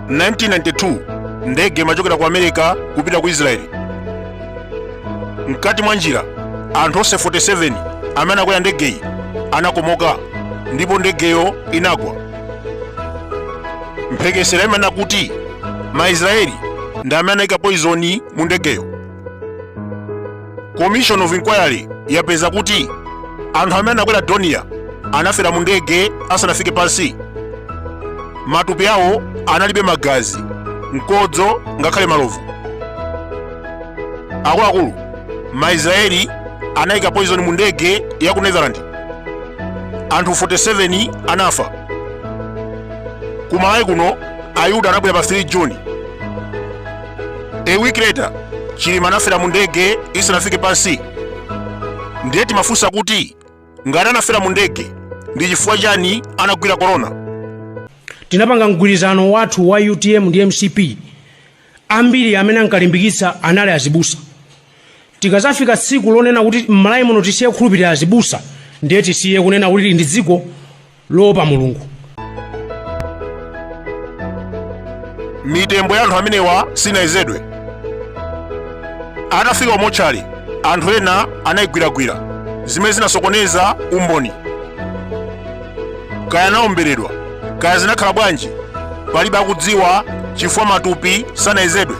1992 ndege imachokera ku america kupita ku israeli mkati mwa njira anthu onse 47 amene anakwera ndegeyi anakomoka ndipo ndegeyo inagwa mphekesera imanena kuti maisraeli ndi amene anayika poizoni mu ndegeyo commission of inquiry yapeza kuti anthu amene anakwera dornier anafera mu ndege asanafike pansi matupi awo analibe magazi mkodzo ngakhale malovu akuluakulu maisraeli anayika poison mu ndege ya ku netherland anthu 47 anafa kumalawi kuno ayuda anabwera pa 3 juni a week later chilima anafera mu ndege isanafike pansi ndiye timafunsa kuti ngati anafera mu ndege ndi chifukwa chani anagwira korona tinapanga mgwirizano wathu wa utm ndi mcp ambiri amene ankalimbikitsa anali azibusa tikazafika tsiku lonena kuti mmalawi muno tisiye kukhulupirira azibusa ndiye tisiye kunena kuti ili ndi dziko loopa Mulungu. mitembo ya anthu amenewa sinayezedwe atafika ku mortuary anthu ena anayigwiragwira zimene zinasokoneza umboni kaya anaomberedwa kaya zinakhala bwanji palibe akudziwa chifukwa matupi sanayezedwe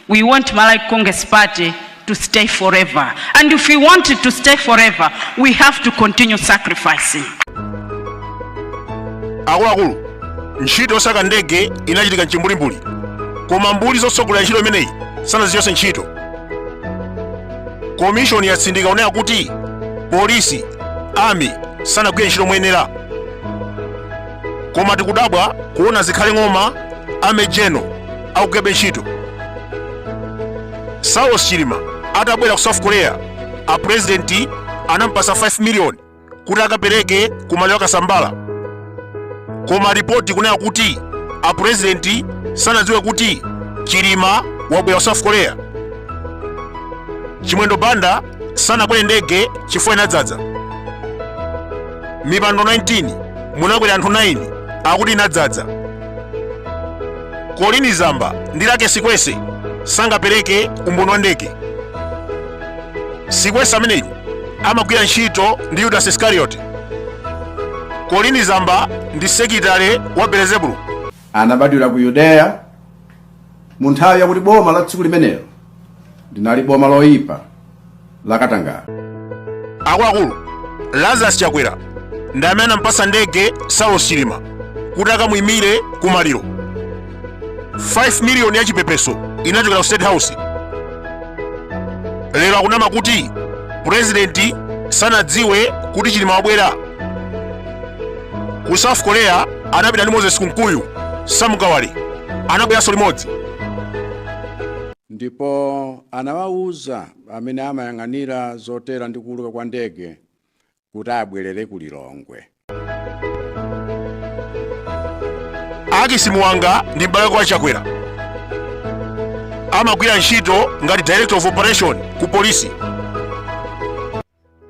We want Malawi Congress Party to stay forever. And if we want it to stay forever, we have to continue sacrificing. akuluakulu ntchito yosaka ndege inachitika mchimbulimbuli koma mbuli zotsogolera ntchito imeneyi sanazichotse ntchito komishoni yatsindika kunena kuti polisi army sanagwire ntchito moyenera koma tikudabwa kuona zikhale ng'oma army general akugwirabe ntchito saulos chilima atabwera ku south korea a president anampasa 5 million kuti akapereke ku maliro a kasambara koma ripoti ikunena kuti a president sanadziwe kuti chilima wabwera ku south korea chimwendo banda sanakwere ndege chifukwa inadzadza mipando 19 munakwera anthu 9 akuti inadzadza colleen zamba ndi luckie sikwese sangapereke umboni wa ndege sikwese ameneyu amagwira ntchito ndi yudasi iskarioti colleen zamba ndi sekitale wa belezebulu anabadwira ku yudeya mu nthawi yakuti boma la tsiku limenelo linali boma loyipa la katangale akuluakulu lazarus chakwera ndi amene anampasa ndege saulos chilima kuti akamuyimire ku maliro 5 miliyoni ya chipepeso inachokera ku state house lero akunama kuti purezidenti sanadziwe kuti chilima wabwera ku south korea anapita ndi moses kunkuyu samu kawale anabweranso limodzi ndipo anawawuza amene amayang'anira zotera ndi kuuluka kwa ndege kuti abwerere ku lilongwe akisi muwanga ndi m'bale wa chakwera amagwira ntchito ngati director of operation ku polisi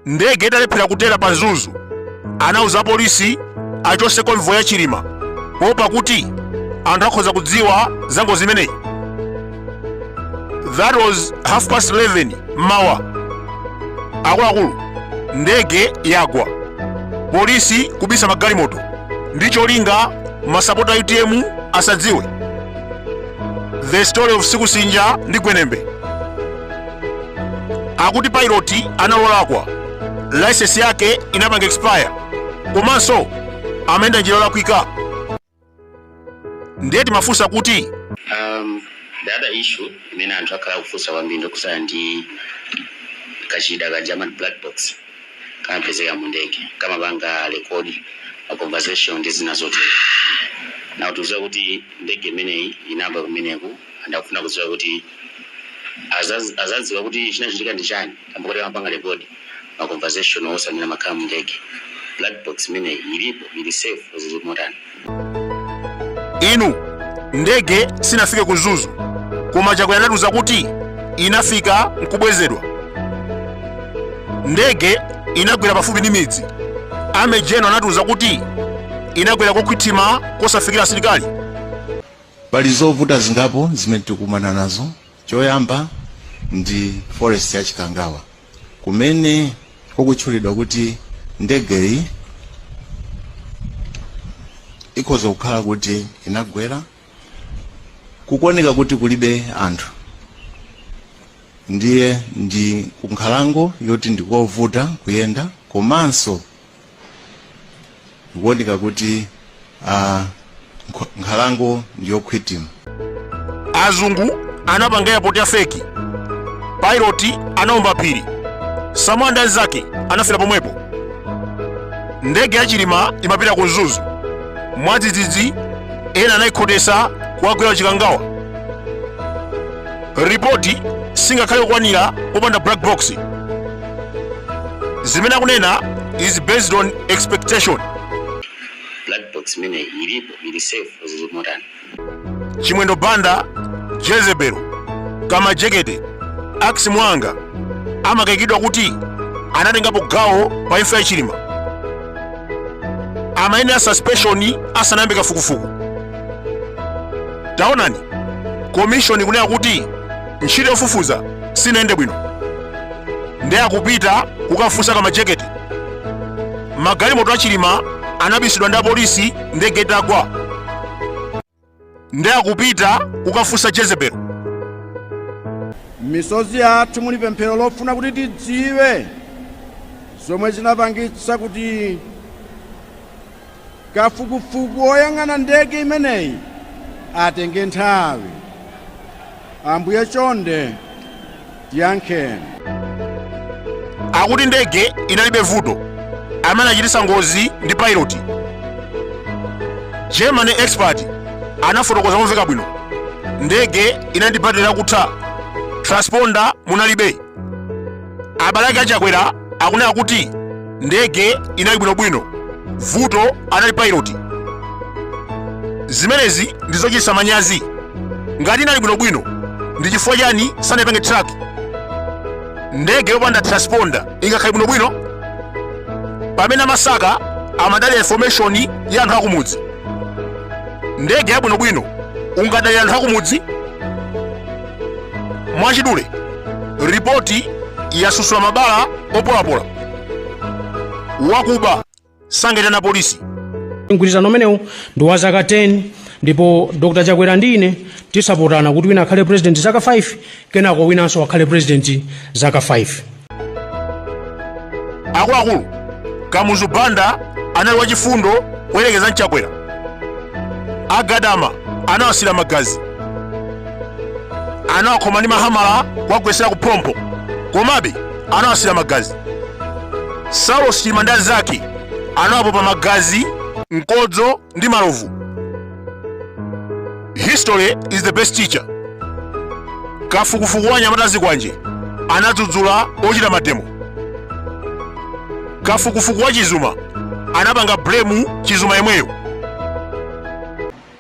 ndege italephera kutera pa mzuzu anauza polisi achotse konvoyi ya chilima poopa kuti anthu akhoza kudziwa za ngozi imeneyi that was half past 11 mmawa akuluakulu ndege yagwa polisi kubisa magalimoto ndi cholinga masapota a utm asadziwe the story of sikusinja ndi gwenembe akuti pilot analolakwa license yake inapanga expire komanso amayenda njira yolakwika ndiye timafunsa kuti um, the other issue imene anthu akhala akufunsa kwambiri ndi yokhudzana ndi kachida kaja ka black box kamapezeka mu ndege kamapanga rekodi ma conversation ndi zina zotero anatiuza kuti ndege imeneyi inalibe kameneka Anthu akufuna kudziwa kuti azadziwa bwanji kuti chinachitika ndi chani kamba koti kamapanga record ma conversation onse amene amakhala mu ndege. Black box imeneyi ilipo ili safe or zili zotani? Inu, ndege sinafike ku Mzuzu koma Chakwera anatiuza kuti inafika nkubwezedwa. Ndege inagwera pafupi ndi midzi. A Major General anatiuza kuti inagwera kokhwima kosafikira asilikali. Pali zovuta zingapo zimene tikukumana nazo. Choyamba ndi forest ya Chikangawa kumene kukutchulidwa kuti ndegeyi ikhoza kukhala kuti inagwera kukuoneka kuti kulibe anthu ndiye ndi kunkhalango yoti ndikovuta kuyenda komanso zikuoneka kuti ah, nkh- nkhalango ndiyokhwitima azungu anapanga airport ya feki pilot anaomba phiri samora ndi anzake anafera pomwepo ndege ya chilima imapita ku mzuzu mwadzidzidzi ena anayikhotesa kuwagwera chikangawa ripoti singakhale kukwanira popanda black box zimene akunena is based on expectation black box imene ilipo ili safe zili motani chimwendo banda jezebel kamajekete ax mwanga amakayikiridwa kuti anatengapo gawo pa imfa ya chilima amayenera suspension asanayambe kafukufuku taonani komishoni kunena kuti ntchito yofufuza sinayende bwino nde akupita kukafunsa kamajekete magalimoto achilima anabisidwa ndi apolisi ndege itagwa nde akupita kukafunsa jezebel misozi yathu muli pemphero lofuna kuti tidziwe zomwe zinapangitsa kuti Kafukufuku woyang'ana ndege imeneyi atenge nthawi. Ambuye chonde tiyankheni. Akuti ndege inalibe vuto. Amene achititsa ngozi ndi pilot. German expert anafotokoza momveka bwino. Ndege inali ndi battery lakutha. Transponder munalibe. abale ake achakwera akunena kuti ndege inali bwinobwino vuto anali pilot zimenezi ndi zochititsa manyazi ngati inali bwinobwino ndi chifukwa chani sanayipange track ndege yopanda transponder ingakhale bwinobwino pamene amasaka amadalira information ya anthu akumudzi ndege yabwinobwino ungadalire anthu akumudzi mwachidule ripoti yasusula mabala opolapola wakuba sangaitane polisi mgwirizano umenewu ndi wa zaka 10 ndipo dr chakwera ndi ine tinagwirizana kuti wina akhale president zaka 5 kenako winanso akhale president zaka 5 akuluakulu kamuzu banda anali wachifundo kuyerekeza ndi chakwera agadama anawasira magazi anawakhoma ndi mahamala kuwagwetsera ku phompho komabe anawasira magazi saulos chilima ndi anzake anawapopa magazi mkodzo ndi malovu history is the best teacher kafukufuku wa anyamata a zikwanje anadzudzula ochita mademo kafukufuku wa chizuma anapanga blame chizuma yemweyo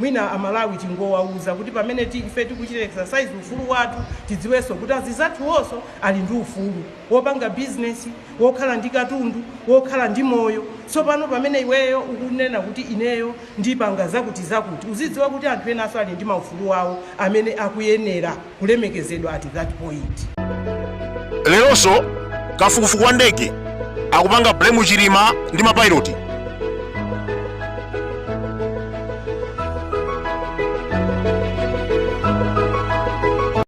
mwina amalawi tingowawuza kuti pamene ti- ife tikuchita exercise ufulu wathu tidziwenso kuti azizathuwonso ali ndi ufulu wopanga bizinesi wokhala ndi katundu wokhala ndi moyo tsopano pamene iweyo ukunena kuti ineyo ndipanga zakutizakuti. Uzidziwa kuti anthu enanso ali ndi maufulu awo amene akuyenela kulemekezedwa at that point. Leronso kafukufuku wa ndege akupanga blame Chilima ndi ma pilot.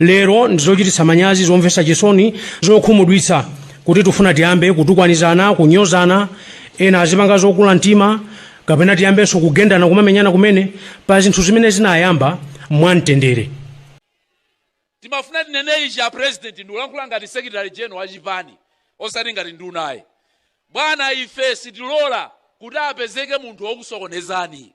lero ndizochititsa manyazi zomvetsa chisoni zokhumudwitsa kuti tifuna tiyambe kutukwanizana kunyozana ena azipanga zokula mtima kapena tiyambenso kugendana kumamenyana kumene pa zinthu zimene zinayamba mwamtendere Timafuna tinene ichi a president ndikulankhula ngati secretary general wa chipani osati ngati nduna ayi. Bwana ife sitilora kuti apezeke munthu wokusokonezani.